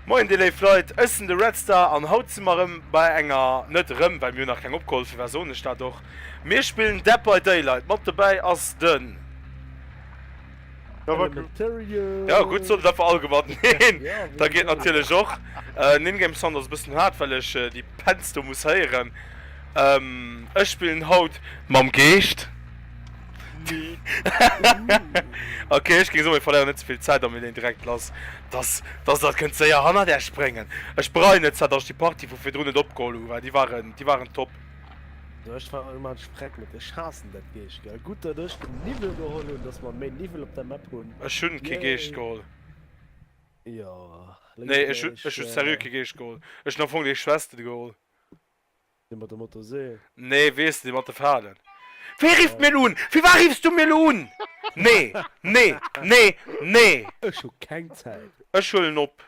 Moien dir léif Leit, ech sinn de Redstar an haut si mer erëm bei enger, net erëm, well mir hunn nach keng opgeholl, firwat soen ech dat och, mir spillen Dead by Daylight. Mat dobäi ass de. Ja gutt sollt et einfach all gewannen. Neen, dat geet natierlech och. Nin Game Sound ass e bëssen haart, well ech déi Pens do muss héieren. Ech spillen haut mam Geescht. Ok, ech géing soen, mir verléieren net ze vill Zäit a mir leeën direkt lass. Dass dat kënnt séier hannert Iech bréngen. Ech bereien net zwar, dass ech déi Partie vu virdrun net opgeholl hu, well déi waren top. Ech war mat Spreck mit de Schassen dat Geescht gell gut dat ech den Niwwel geholl hunn, dats mer méi Niwwel op der Map hunn. Ech hunn kee Geescht geholl. Jo. Nee ech hunn ech hunn serieux kee Geescht geholl. Ech hunn am Fong déi Schwestel geholl. Dee mat der Motorsee? Nee weess dee mat de Falen. Wee rifft mir elo un? Firwat riffs du mir elo un? Nee nee nee nee. Ech hu keng Zäit. Ech huelen op.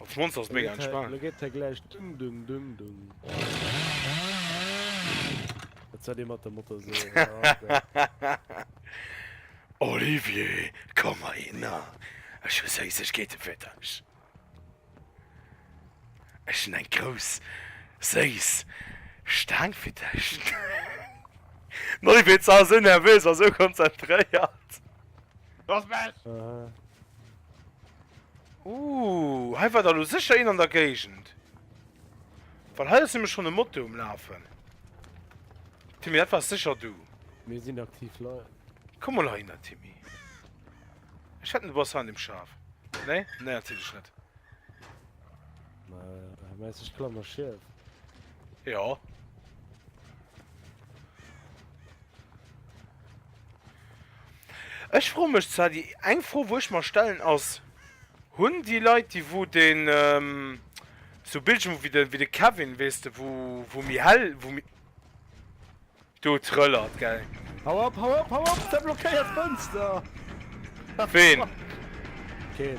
Als Monster ass mega entspaant. Lo geet hei gläich dung dung dung dung. Et säit ee mat der Moto sou. Olivier, komm heihinner, ech hu Séissegkeete fir dech. Ech hunn eng grouss, séiss Staang fir dech. Den Olivier ass awer sou nervös a sou konzentréiert. Looss mech! Ooh, hei war der lo sécher een an der Géigend. Well hei ass nämlech schonn e Moto um Lafen. Timmy, dat waars sécher du. Mir sinn aktiv Leit. Komm mol heihinner, Timmy. Ech wetten, du bass hei an deem Schaf. Nee? Nee, natierlech net. Mä meinst ech klammer schief? Jo. Ech froe mech zwar, déi eng Fro wou ech mer stellen ass, hunn déi Leit déi wou den sou Bildschirm wéi de wéi de Kevin weess de wou wou méi hell wou méi do trëllert gell. Hau op, hau op, hau op, der blockéiert d'Fënster! Ween? Keen.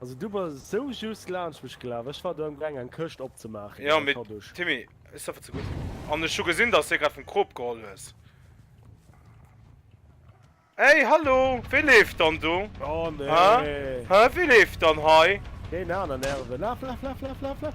Also du bass sou just laanscht mech gelaf, ech war do am gaang eng Këscht opzemaachen Jo, mee Timmy, ech saffe ze gutt. An ech hu gesinn dass de grad vum Krop geholl hues. Hey hallo, wee leeft dann do? Oh nee. Hä, wee leeft dann hei? Deen aneren Herve, laf laf laf laf laf laf.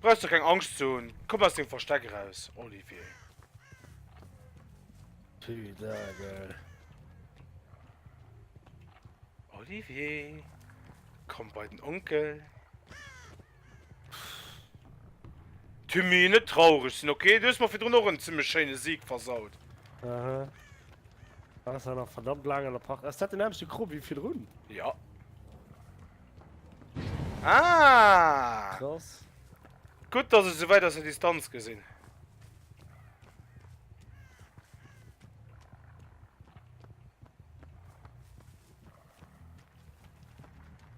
Brauchs du keng Angscht ze hunn. Komm aus dem Versteck eraus, Olivier. Putain, geil. Olivier, komm bei den Onkel. Timmy, net traurig sinn, okay? Du hues mer virdrun och en zimmlech schéine Sieg versaut. Aha. Ass ja nach verdammt laang an der Partie. Ass dat den nämmste Krop wéi virdrun? Ja. Ah! Krass. Gutt, dass ech se wäit aus der Distanz gesinn.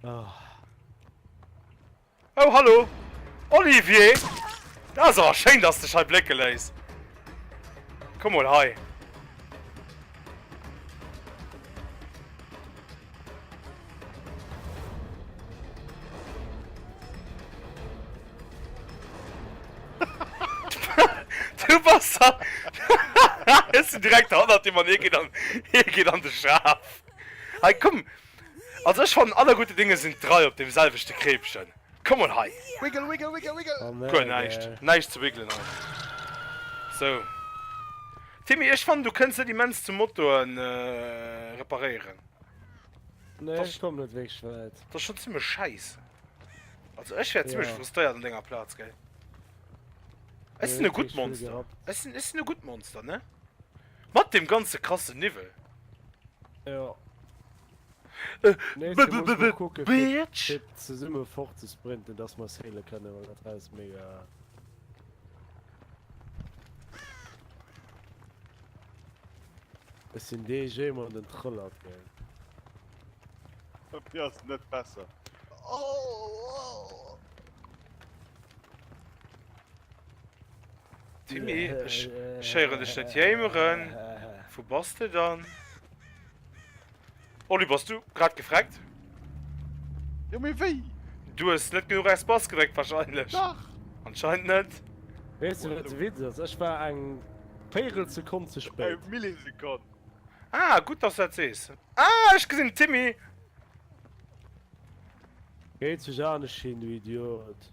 Oh. oh, hallo! Olivier! Das awer schéin, dass dech hei blécke léis. Komm mal hei. Du bass a. Ech sinn direkt hannert dir, Mann. Hie geet an, hie geet an de Schaf. Hei, komm! Also, ech fannen, aller gudde Dinge sinn drei op deem selwechte Kreepchen. Komm mol hei! Wiggle, wiggle, wiggle, wiggle! Guer näischt, näischt ze wiggelen hei. Sou. Timmy, ech fannen du kënns net immens zu Motoren reparéieren. Nee, ech komm net wierklech wäit. T'ass schon zimlech schäisse. Also ech wär zimlech frustréiert an denger Plaz, géi. Ech sinn e gutt Monster. Ech sinn, ech sinn e gutt Monster, ne? Mat deem ganze krasse Niwwel! Jo. Bitch! Zesumme fort ze sprinten, dass mer saile kënne, well dat Haus mega. Es sinn dee jee mat den Trëllert ge. Op ass net besser. Timmy, ech héieren dech net jéimeren. Wou bass de dann? Oli, bass du grad gefreckt? Jo, mee wéi? Du hues net genuch Espace gedréckt wahrscheinlech. Dach! Anscheinend net. Weess de wat de Witz ass? Ech war eng véirel Sekonn ze spéit. Eng Millisekonn. Ah, gutt dass du dat sees. Ah, ech gesinn den Timmy! Geet sech anescht hin, du Idiot!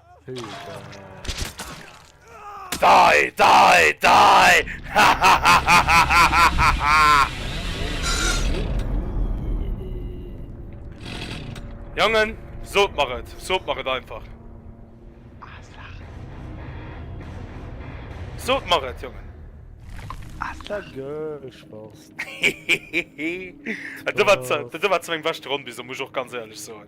Dei, dei, dei! Jongen, sot mer et, sot mer et einfach. Sot mer et, Jongen. Dat war zu eng beschte Ronn bis elo, muss ech och ganz éierlech soen.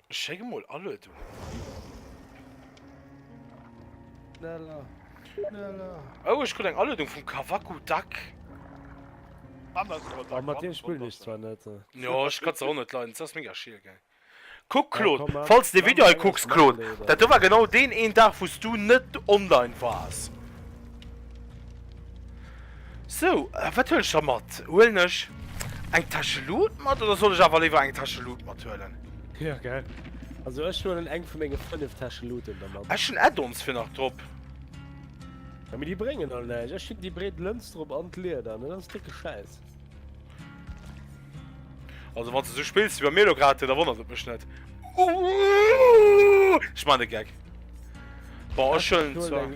Schéck emol Aluedungen. Schneller, schneller. Oh, ech krut eng Aluedung vum Kavaku Duck. Oh, mat deem spillen ech zwar net. Jo, ech ka se och net leiden, se ass mega schier gell. Kuck Claude, falls s de Video hei kucks, Claude, dat do war genau deen een Dag wou s du net online waars. Sou, wat huelen ech da mat? Huelen ech eng Täsche Loot mat oder soll ech awer léiwer eng Täsche Loot mat huelen? Ja gell. Also ech huelen eng vu menge 5 Täsche Looten da mat. Ech hunn Add-ons fir nach drop. Ja mee déi bréngen all näischt. Ech hunn déi breet Lëns drop an d'Lieder an dat ass décke Schäiss. Also wann du so spillst wie bei mir lo grad, da wonnert et mech net. Uh, ich meine Gag. Boah, ich schon zwar.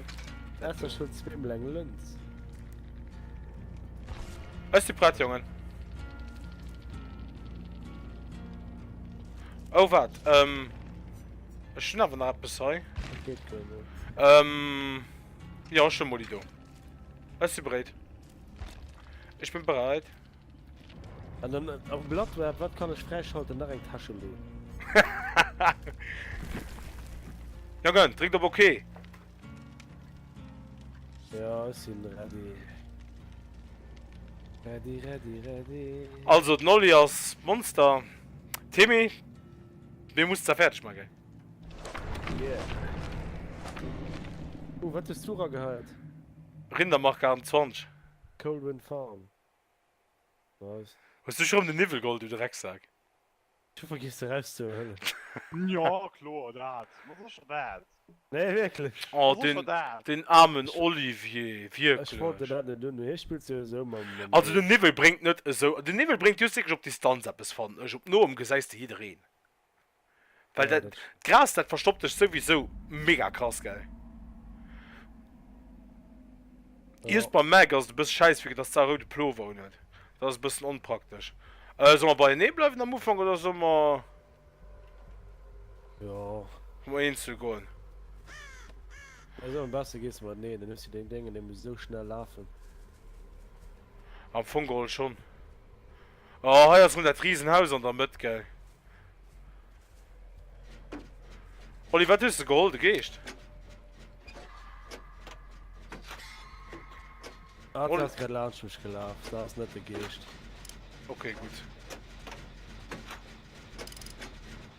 Das ist schon zwei Blank Lens. Ist die Brett, Jungen? Oh, warte. Ähm. Ich bin aber noch etwas hei. Geht, ähm. Ja, schon mal die da. Ist die bereit? Ech bin bereit. An dann äh, am Blatt war, wat kann ech fräischalten nach eng Tasche lo. ja gönn, dréckt op okay. Ja, ech sinn ready. Ready, ready, ready. Also den Olli ass Monster. Timmy, mir muss da fertig machen. Oh, wat hues du ra geheiert? Rindermark 28. Colwyn Farm. Nice. Hues du schon den Niwwel geholl, du Drecksack? Du vergiss de Rest ze huelen. Ja, kloer, dat. Wat ass scho dat? Nee, wierklech. Oh, den, den armen Olivier, wierklech. Ech wollt den dat net un, hie spillt jo esou mam. Also den Niwwel bréngt net esou, den Niwwel bréngt just wierklech op Distanz eppes, fannen ech. Op noem gesäis de jiddereen. Well dat, d'Gras, dat verstoppt dech souwisou mega krass, gell? Iers beim Mac ass et e bësse schäiss, wéi dass d'Sa rou de Plover un huet. Dat ass e bëssen onpraktesch. Solle mer beienee bleiwen am Ufank oder solle mer ëm eenzel goen? Also am beschte gees de mateneen, dann hues du deng Déngen, déi muss esou schnell lafen. Am Fong geholl schonn. Oh, hei ass mol dat riesen Haus an der Mëtt, gell. Oli, wat hues de geholl? De Geescht? Ah, du hast grad launch mich gelaf, da ass net de Geescht. Okay, gutt.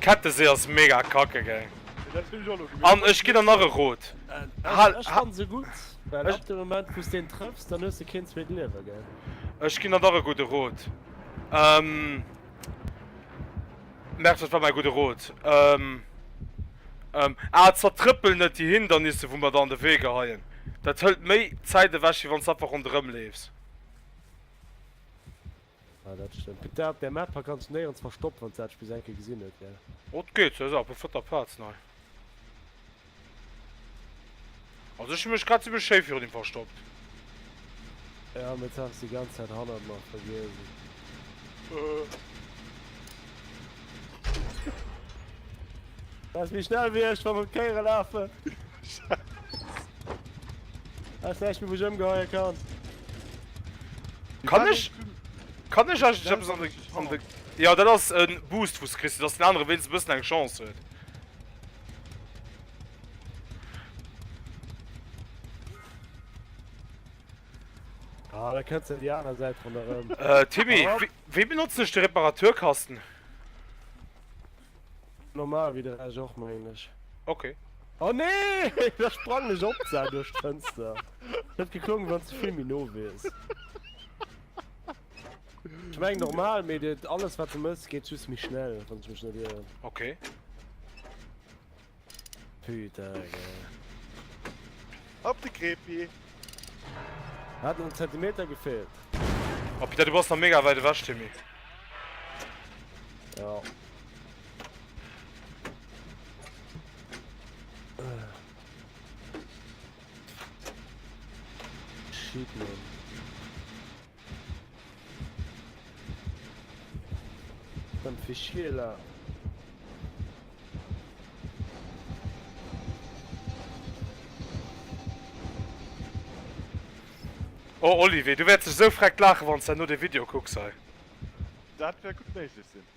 Kettesee ass mega kacke gell? An ech ginn der nach e Rot. Ech fannen se gutt, well ab dem Moment wous deen trëffs, dann hues de keen zweet Liewen gell? Ech ginn der nach e gudde Rot. Merkt wat war mäi gudde Rot? Ah zertrëppel net déi Hindernisse wou mer der an de Wee geheien. Dat hëlt méi Zäit ewech wéi wanns de einfach ronderëm leefs. Ah dat stëmmt. Gëtt dat op der Map ha ganz néierens verstoppt wanns dat bis enke gesinn huet gell? Oh et geet, se ass awer op der vierter Platz nei. Also ech hu mech grad zimmlech schéi virun him verstoppt. Ja mee jetzt ass en die ganze Zeit hannert mer verwiesen. Lass mich schnell wie ech wann Kéiere lafe Ass echt wie wech ëmgeheie kann. Kann ech Kann ech an de Ja dat ass en Boost vus Christ, dats den anere wéinst bëssen eng Chance huet. Ah, da kënnt se déi aner Säit vun der Rëm. Äh Timmy. Wéi benotzen ech de Reparaturkasten? Normal wéi de Rescht och mengen ech. Ok. Oh nee! Da sprang ech op d'Sau duerch d'Fënster. Et huet geklongen wanns de vill méi no wiers. Ech mengen normal, mee alles wat de mëss geet just méi schnell wann ech mech net ieren. Ok. Op de Krepi! Hat en Zentimeter gefehlt. Oh Peter, du bass nach mega weit ewech, Timmy. Ja. Shit, man. Dem Fischieler. Oh Olivier, du wäerts dech esou vreckt laachen, wann s de herno de Video kucks hei. Dat wäert gutt méiglech sinn.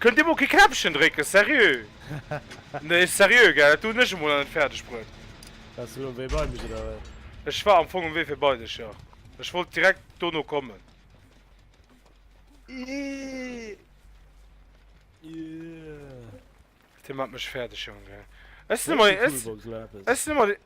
Kënnt Dir mol kee Knäppchen drécken, seriö? Nee, seriö, gell, dat do hunn ech emol an net fäerdeg bruet. Wars de lo um Wee bei mech, oder wat? Ech war am Fong um Wee fir bei dech, jo. Ech wollt direkt dono kommen. Dir maacht mech fäerdeg, Jongen, gell. Ech sinn ëmmer, ech sinn ëmmer dee.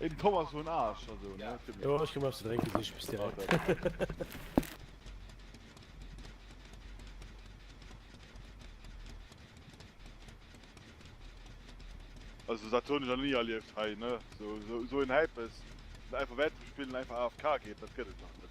Eben komm as hun Arsch also ne. Ja. Jo ech komm eppes ze drénken sich bis direkt. Okay. Also dat hun ech an nie erlieft hei ne so so so en Häippes einfach wäit ze spillen einfach AFK geet dat gëtt et nach net.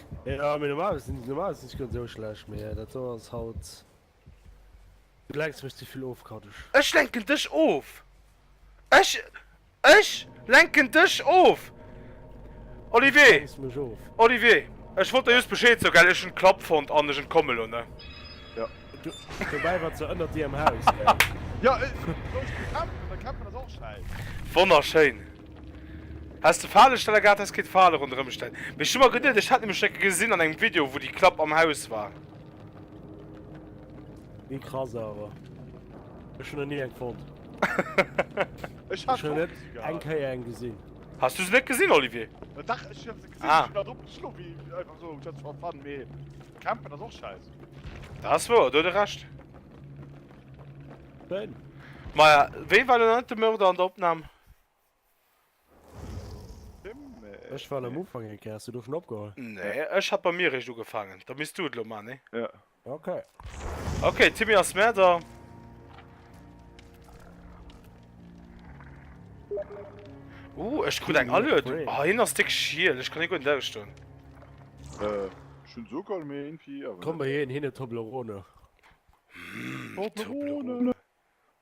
Jo mee normal sinn normal sinn ech net esou schlecht mee dat do ass haut du lenks mech zevill of Kaddech. Ech lenken dech of! Ech ech lenken dech of! Du Olivier! lenks mech of! Olivier! Ech wollt der just Bescheed soe gell ech hunn d'Klapp fonnt an ech entkomme lo ne. Jo du dobäi wat se ënnert dir am Haus gell. Jo soss bekämpfen da kämpfen ass och schäiss. Wonnerschéin! Häss de Falestaller gehat häss keen Fale ronderëm stellen mee ech hu mer geduet ech hätt nämlech enke gesinn an engem Video wou déi Klapp am Haus war. Ni krass awer ech hun nach ni eng fonnt. Ech hat se och net eng kéier eng gesin. Has du se net gesin Olivier? Dach ech hun se gesin ech hun drop geschlof wéi einfach sou just for fun mee campen ass och scheiss. Dat ass wouer do huet e recht. Maja wéi war lo net de Mörder an der Opnahm? Ech war am Ufang eng Kéier, hast du do schon opgeholl? Nee, ech hat bei mir recht ugefangen. Da misst du et lo man, ne? Ja. Okay. Okay, Timmy ass mehr da. Uh, ech krut eng Allure. Du, ah, hin ass dick schiel. Ech kann irgendwo lauschten. Äh, schon so geil, mir irgendwie, aber... Komm bei hin, hin Toblerone. Toblerone.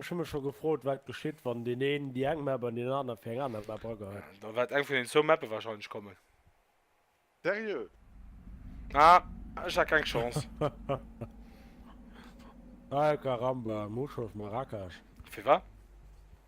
Ech hu mech scho gefrot wat geschitt wann deen een déi eng Map an deen anere fir eng aner Map agehëtt. Da wäert eng vun den zwou Mappe wahrscheinlech kommen. Seriö? Ah, ech hat keng Chance. Ay caramba, Mhushof Marrakesh. Firwat?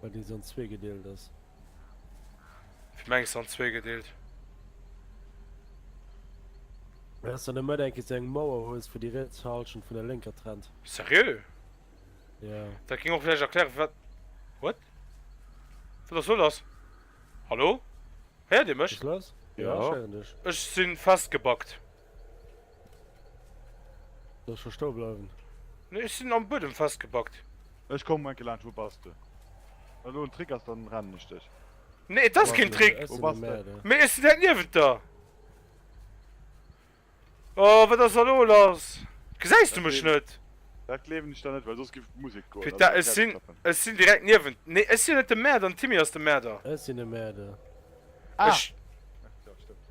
Bei deen se an zwee gedeelt ass. Ech mengen se an zwee gedeelt. Well ass dann net mat enke se eng Mauer hues wou déi riets Halschent vun der lénker trennt. Serieux? Ja. Dat ging och vläicht erklären wat. What? Wat ass lo lass? Hallo? Héiert dir mech? Ass lass? Jo, ech héieren dech. Ech sinn festgebackt. Soll ech scho stoe bleiwen? Nee, ech sinn am Buedem festgebackt. Ech komm enke laanscht, wou bass de? Wann do en Trick ass, dann rennen ech dech. Nee, et ass keen Trick! Wou bass de? Mee ech sinn direkt niewent der! Oh, wat ass da lo lass? Gesäis du mech net? Dat gleewen ech der net, well soss géif d'Musek goen. Peter, ech sinn, ech sinn direkt niewent. Nee, ech sinn net de Mäerder, den Timmy ass de Mäerder. Ech sinn de Mäerder. Ah! Ech. Jo, stëmmt.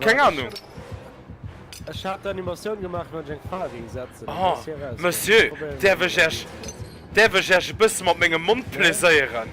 Keng Ahnung. Ech hat d'Animatioun gemaach wann ech eng Fra géing setzen. Oh Monsieur, däerf ech Iech, däerf ech Iech e bësse mat mengem Mond plaiséieren?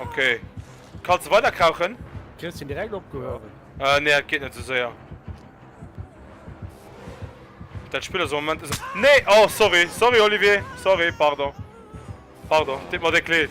Okay. Kannst du weiter krauchen? Kriegst du ihn direkt abgehoben? Äh, nee, das geht nicht so sehr. Das Spiel ist im Moment... Ist... Nee! Oh, sorry. Sorry, Olivier. Sorry, pardon. Pardon. Tut mir wirklich leid.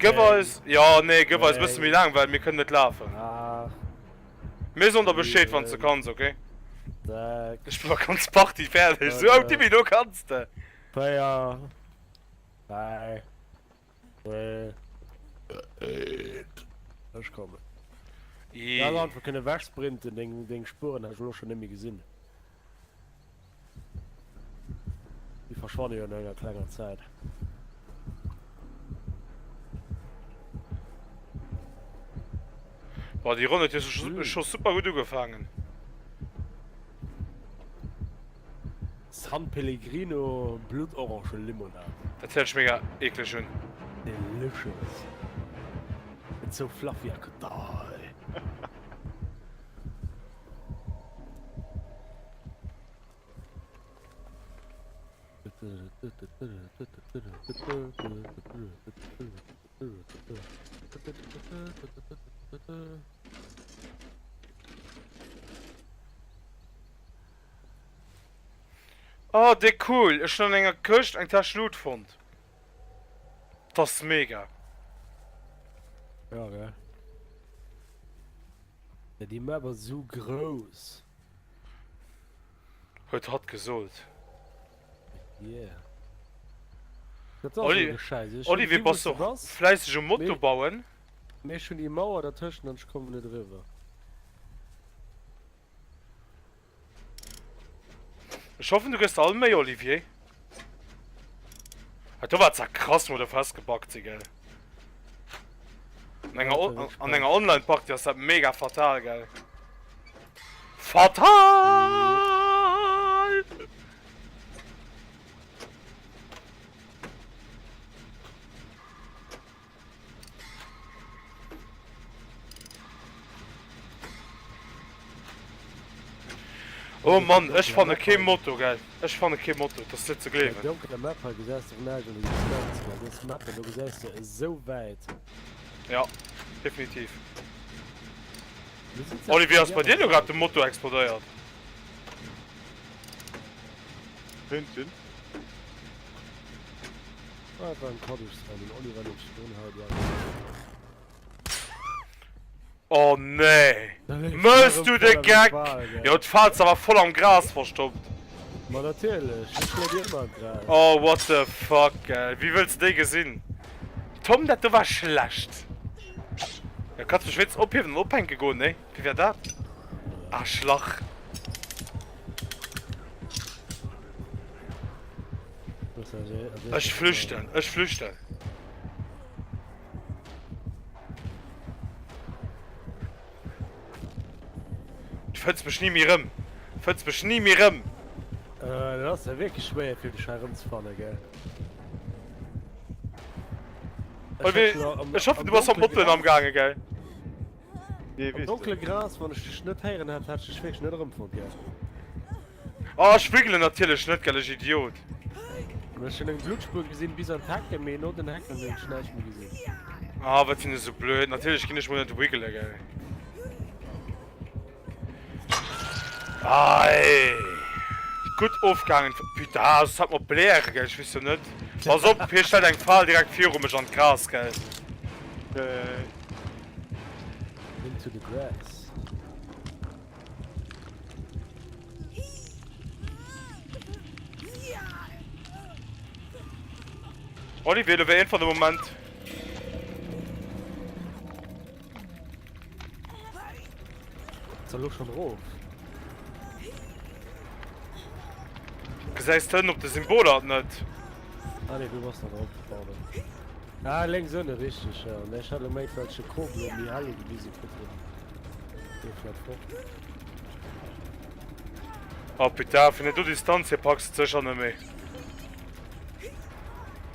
Gëff eis, jo nee gëff eis bësse méi laang well mir kënnen net lafen. Mir soen der Bescheed wann s de kanns ok. Ech hu ganz Party fäerdeg sou oh Tibi do kanns de. Ech kommen. Ii. Ech hätt einfach kënne wegsprinten, deng Spueren hätt ech elo scho net méi gesinn. Déi verschwanne jo no enger klenger Zäit. Boah, déi Ronn huet jo scho mm. scho super gutt ugefaangen. San Pellegrino Blutorange Limonade. Dat hört mega eklig un. Delicious. It's so fluffy I could die. Oh, déi cool! Ech hunn an enger Këscht eng Täsch Loot fonnt. T'ass mega! Ja, gell? Ja déi maach mer sou grouss. Huet hatt gesot. Yeah. Dat ass Oli, jo scheiss. Ech Oli, wéi bass och fläisseg um Moto bauen? Mee ech hunn déi Mauer dertëschent an ech kommen net eriwwer. Ech hoffen du gëss all Méi Olivier. Hat do war ze krass mat der Fest gebackt si gell. An enger an enger online Party ass dat mega fatal gell. Fatal! Oh Mann, ech fanne kee Moto gell. Ech fanne kee Moto, dat ass net ze gleewen. Bei donkeler Map hei gesäis de Renage an der Distanz, mä dës Map elo gesäis de esou wäit. Ja, definitiv. Oli, wéi ass bei dir elo grad de Moto explodéiert? Hintinn. Oh nee! Mëlls du de Geck? Jo d'Falz awer voll am Gras verstoppt. Oh what the fuck ey, wéi wëlls de déi gesinn? Tom dat do war schlecht. Jo kanns mech wéinstens ophiewen an ophänke goen nee? Wéi war dat? Arschlach. Ech flüchten, ech flüchten. Du fënns mech ni méi rëm. Fënns mech ni méi rëm. Äh, dat ass ja wierklech schwéier fir dech hei rëmzefannen, gell? Ech hoffe du bass am Motten amgaange, gell? Am donkele Gras, wann ech dech net héieren hätt, hätt ech dech wierklech net erëmfonnt. Oh, ech wiggelen natierlech net, gellech Idiot! Ech hunn eng Bluttspuer gesinn, bis an d'Hecken, mee no den Hecken hunn ech näischt méi gesinn. Ah, wat sinn ech esou blöd! Natierlech ginn ech mol net wiggelen, gell? Gudd ofgaangen putain, ass et hatt mat Bläre gell, ech wees jo net, pass op hie stellt eng Faal direkt viru mech an d'Gras gell. Olivier, do wär een fan de Moment. Lo schon rof. Gesäis d'Hënn op de Symboler net? Ah nee, du bass da drop, pardon. Ah, lénks ënne, richtig, ja. Mä ech hat elo méint, well ech de Kobel um Mihaly gewise kritt hunn. Dee fläit fort. Ah putain, vun der do Distanz hier packs du d'Sécher net méi.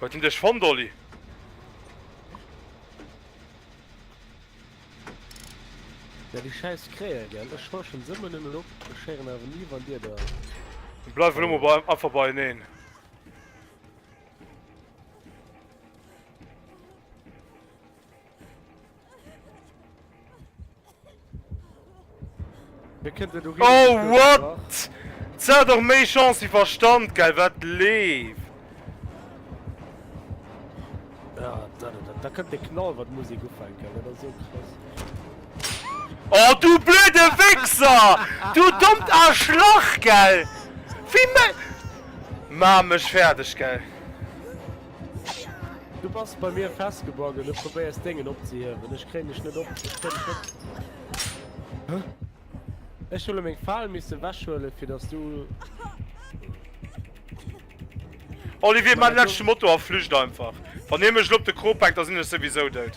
Huet en dech fonnt, Oli? Ja, déi schäiss Krähe, gell? Ech forschen se ëmmer nëmmen op, ech héieren awer ni, wann dir da. Mir bleiwen ëmmer bei, einfach beieneen. Oh what? Se hat och méi Chance wie Verstand, geil wat leeft. Ja, da, da, da kënnt de Knall wat Musik ufänken, dat ass esou krass. Oh du blöde Wichser! Du dommt Arschlach, gell! Wie me. Maach mech fäerdeg, gell! Du bass bei mir festgebagen, du probéiers dengen opzehiewen, ech kréien dech net op, ech kréien dech net. Hä? Ech huele meng Fal misse wäschhuele fir dass du. Olivier, man lech Motor a flücht einfach. Wann hie mech lo op de Kro packt, da sinn ech souwisou dout.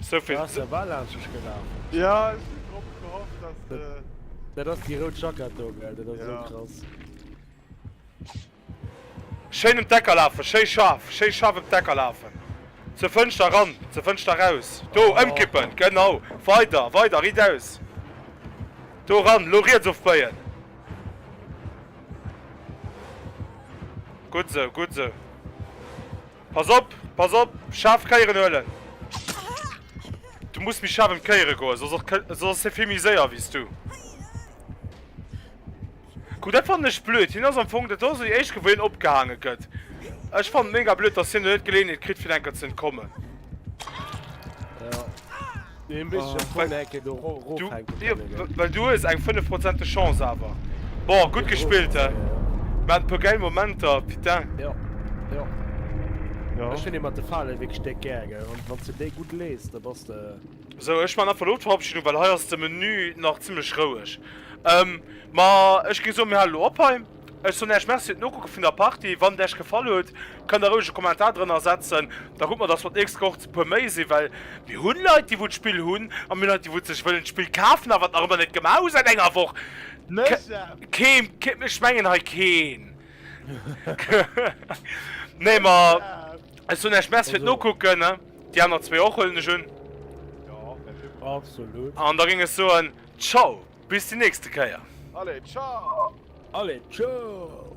Souvill Ass der war laanschech gelaf. Ja, ech hunn drop gehofft, dass de. Dat ass déi rout Jackett do, gell? Dat ass esou Ja. krass. Schéin ëm d'Ecker lafen, schéi scharf, schéi scharf ëm d'Ecker lafen. Zur Fënschter eran, zur Fënschter eraus. Do, Oh. ëmkippen, genau. Weider, weider, riitaus. Do eran, lo riets ofbéien. Gutt sou, gutt sou. Pass op, pass op, schaarf Kéieren huelen. Du muss méi schaarf ëm d'Kéiere goen, soss ass hie vill méi séier wéi s du. Kuck, dat fannen ech blöd. Hien ass am Fong, dat ass esou déi éischt Kéier, wou hien opgehaange gëtt. Ech fannen et mega blöd, dass hien elo net d'Geleeënheet kritt, fir enker ze entkommen. Well du hues eng 5 Prozent de Chance awer. Boah gutt gespillt hei. Mir haten e puer gäil Momenter putain. Jo jo jo ech hunn ee mat de Falen wierklech déck gär gell an wann s de déi gutt lees da bass de. Sou ech man einfach lo d'Verabschiedung well hei ass de Menü nach zimmlech roueg. Ma ech géing soen mir hale lo op hei. Ech soen Äech Merci fir d'Nokucke vun der Partie. Wann et Äech gefall huet, kënnt Der roueg e Kommentar drënner setzen. Da kucke mer, dass mer d'nächst Woch e puer méi sinn, well mir hunn Leit, déi wou d'Spill hunn, a mir hunn Leit, déi wou et sech wëllen d'Spill kafen, awer et nach ëmmer net gemaach hu säit enger Woch. Keen, ech mengen hei keen. Nee, ma ech soen Äech Merci fir d'Nokucken. Déi aner zwee och, huelen ech un. An da géing ech soen, Ciao! Bis déi nächste Kéier! Allez, ciao! Allez, ciao!